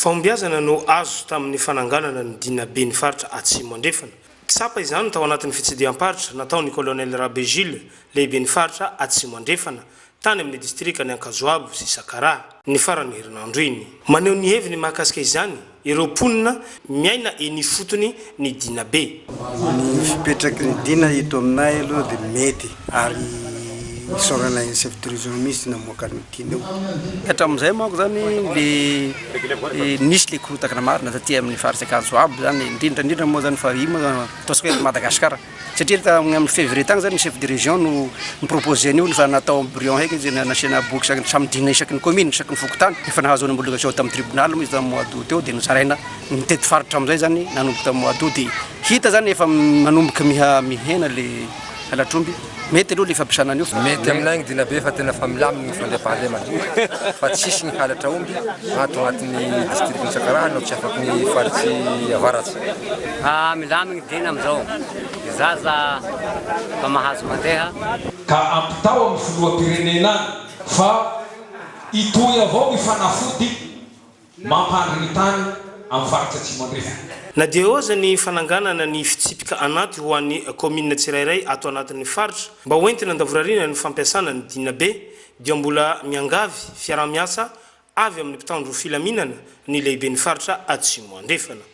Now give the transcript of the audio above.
Fahombiazana no azo tamin'ny fananganana ny Dinaben'ny Faritra Atsimo Andrefana. Tsapa izany tao anatin'ny fitsidiham-paritra nataon'ny Colonel Rabe Jules, Lehiben'ny Faritra Atsimo Andrefana, tany amin'ny Distrikan'i Ankazoabo sy Sakaraha, ny faran'ny herinandro iny. Maneho ny heviny mahakasika izany ireo mponina Miaina eny ifotony ny Dina be. Ny fipetraky ny Dina eto aminay aloha dia mety ary isaorana an'i chef de region mihintsy namoaka an'io Dina io. Hatramin'izay manko izany le nisy le korontagna marina taty amin'ny faritra Ankadizoaby izany indrindra indrindra moa izany fa io moa ataontsika hoe eto Madagasikara. Satria tamin'ny amin'ny février tany izany ny chef de région no ni-proposer an'io fa natao embryon heky izy nasiana boky isaky ny samy dina isaky ny commune, isaky ny fokontany. Efa nahazo ny homologation tamin'ny tribunal moa izy tamin'ny mois d'aout teo dia nozaraina mitety faritra amin'izay izany nanomboka tamin'ny mois d'aout dia hita izany efa manomboka miha mihena ilay halatr'omby. Mety aloha ilay fampiasana an'io fa. Mety aminay ny dina be fa tena efa milamina ny fandriampahalemana fa tsisy ny halatra omby ato anatin'ny district-n'i Sakarana no tsy afaky ny faritry avaratsy. Milamina. Liana amin'izao ny zaza mba mahazo mandeha. Ka ampitao amin'ny filoham-pirenena any fa hitohy avao ny fanafody mampandry ny tany amin'ny faritra Atsimo Andrefana. Na dia eo aza ny fananganana ny fitsipika anaty ho an'ny kaominina tsirairay ato anatin'ny faritra mba ho entina andavorariana ny fampiasana ny Dinabe dia mbola miangavy fiaraha-miasa avy amin'ny mpitandro filaminana ny lehiben'ny faritra Atsimo Andrefana.